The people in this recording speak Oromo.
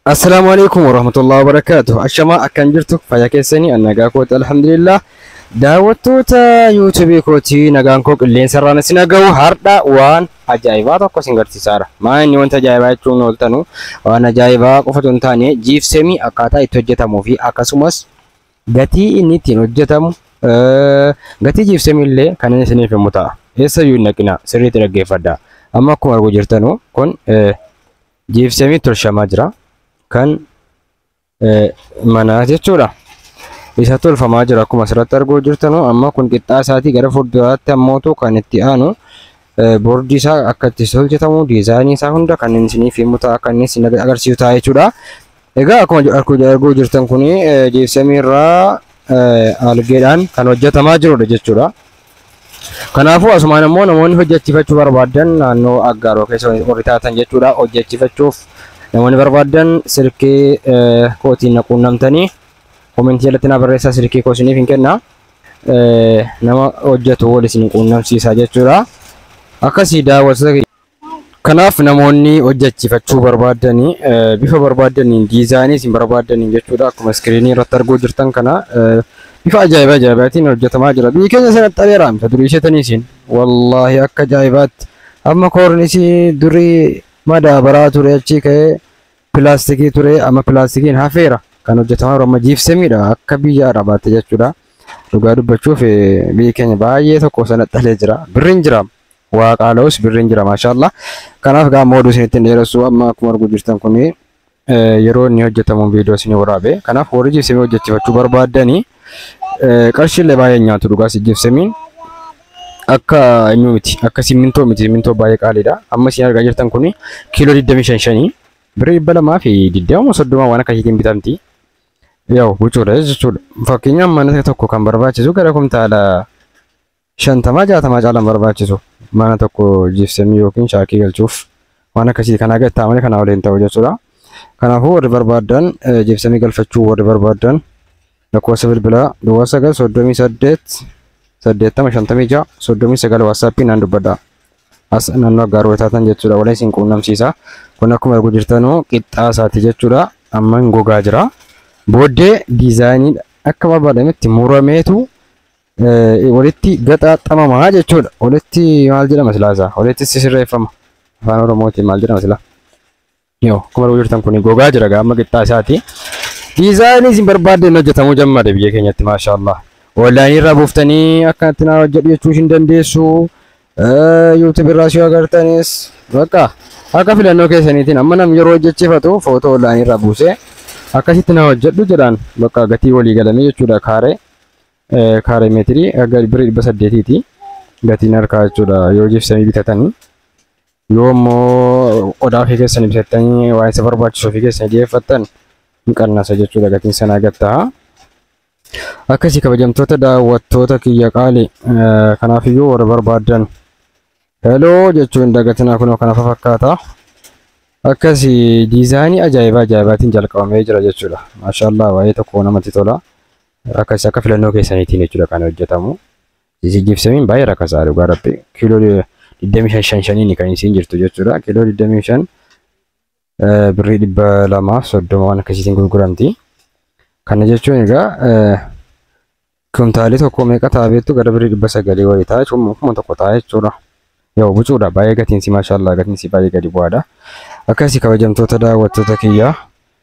Assalaamu alaikum warahmatullahi wabarakatuh. Ashamaa akkan jirtu fayya keessanii an nagaa kooti alhamdulillah. Daawwattoota yuutuubii kootii nagaan koo qilleensa irraan isin dhagahu hardha waan ajaa'ibaa tokko isin garsiisaara. Maa inni wanta ajaa'ibaa jechuun ooltanu waan ajaa'ibaa qofatu hin taane jiipseemii akkaataa itti hojjetamuu fi akkasumas gatii inni ittiin hojjetamu eh, gatii jiipseemii illee kan inni isiniif himu ta'a. Eessayyuu hin dhaqina sirriitti dhaggeeffadha. Amma akkuma arguu jirtanu kun eh, Jiipseemii tolchamaa jira. Kan eh, manaa jechuudha. Isa tolfamaa jira akkuma asirratti arguu jirtanu amma kun qixxaa isaatii gara fuulduraatti ammootu kan itti aanu eh, boordii isaa akka itti hojjetamu diizaayinii isaa hunda kan inni isiniif himu ta'a kan inni isin agarsiisu ta'a jechuudha. Egaa akkuma ju- arku- arguu jirtan kun jiipseemii irraa eh, algeedhaan kan hojjetamaa jirudha jechuudha. Kanaafuu asumaan ammoo namoonni hojjechifachuu barbaaddan naannoo Aggaaroo keessa warri taatan jechuudha hojjechifachuuf namoonni barbaaddan silkii kootiin na quunnamtanii komentii jalatti naa barreessaa silkii koo isiniif hin kenna nama hojjetu wal isin quunnamsiisaa jechuudha akkasii daawwattoota Kanaaf namoonni hojjechiifachuu barbaaddan bifa barbaaddaniin diizaayinii isin barbaaddaniin jechuudha akkuma iskiriinii irratti arguu jirtan kana bifa ajaa'ibaa ajaa'ibaatiin hojjetamaa jira. Biyyi keenya sana xareeraam ta durii isheetanii isin wallaahi akka ajaa'ibaatti amma koornisii durii madaabaraa ture achii ka'ee pilaastikii ture amma pilaastikiin hafeera kan hojjetamaa jiru amma jiifsemiidha akka biyya arabaatti jechuudha. Dhugaa dubbachuuf biyyi keenya baay'ee tokko sana xalee jira birriin jiraam. Waa qaala'us birriin jira maashaallah. Kanaaf gaa amma oduu isinitti hin dheeressu amma akkuma arguu jirtan kun yeroo inni hojjetamu viidiyoo isinii waraabe. Kanaaf warri jibsimii hojjechifachuu barbaaddanii qarshiillee baay'ee hin nyaatu dhugaas jibsimiin akka eenyu miti akka simmintoo miti simmintoo baay'ee qaaliidha. Amma isin argaa jirtan kun kiiloo 25 shanii birrii 200 fi 20 soddoma waan akkasiitiin bitamti. Yaa'u huccuudha jechuudha. Fakkeenyaaf mana tokko kan barbaachisu gara kumtaala 50 60 caalan barbaachisu mana tokko jiipsemii yookiin shaakii galchuuf waan akkasii kanaa gadi taa'amanii kanaa waliin ta'u jechuudha. Kanaafuu warri barbaadan jiipsemii galfachuu warri barbaadan lakkoofsa bilbilaa duwwaa 9 38 80 56 39 waatsaappii naan dubbadha. As naannoo aggaaruu taatan jechuudha waliin isin quunnamsiisa. Kun akkuma arguu jirtanuu qixxaa isaati jechuudha. Amma hin gogaa jira. Booddee diizaayinii akka barbaadametti murameetu eh, walitti gaxaaxamama jechuudha. Walitti maal jedhama silaa isaa? Walitti sisirreeffama. Afaan Oromootiin maal jedhama silaa? Yoo akkuma arguu jirtan kun gogaa jira gaama qixxaa isaati. Diizaayinii isin barbaadden hojjetamuu jammade biyya keenyatti maashaallah. Onlaayinii irraa buuftanii akkanatti naa hojjedhu jechuu isin dandeessu. Yuutuub irraas yoo agartanis bakka akka filannoo keessaniitiin amma nam yeroo hojjechiifatu footoo onlaayinii irraa buusee akkasitti naa hojjedhu jedhaan bakka gatii walii galamee jechuudha kaaree. kaaree meetirii aga birri dhibba saddeetiiti gatiin harkaa jechuudha yoo jibsamii bitatanii yoo immoo qodaa ofii keessanii bitattanii waan isa barbaachisu ofii keessanii dhiyeeffattan ni qannasa jechuudha gatiin sanaa gad ta'a. Akkasii kabajamtoota daawwattoota kiyya qaali kanaaf iyyuu warra barbaadan heloo jechuu hin dagatinaa kunoo kana fakkaata. Akkasii diizaayinii ajaa'ibaa ajaa'ibaatiin jalqabamee jira jechuudha. Maashaallah baay'ee tokko namatti tola. Akkas akka filannoo keessaniitiin jechuudha kan hojjetamu. Isin jibsamiin baay'ee rakkasaa dhugaa rabbi. Kiiloo 25 shan shaniin kan isin jirtu jechuudha. Kiiloo 25 eh, birrii 230 waan akkasiitiin gurguramti. Kana jechuun egaa eh, kuntaalii tokko meeqa ta'a beektu gara birrii 900 wayii ta'a jechuun kuma tokko ta'a jechuudha. Yoo bucuudha baay'ee gatiinsi maashaallah gatiinsi baay'ee gadi bu'aadha. Akkasii kabajamtoota daawwattoota kiyyaa.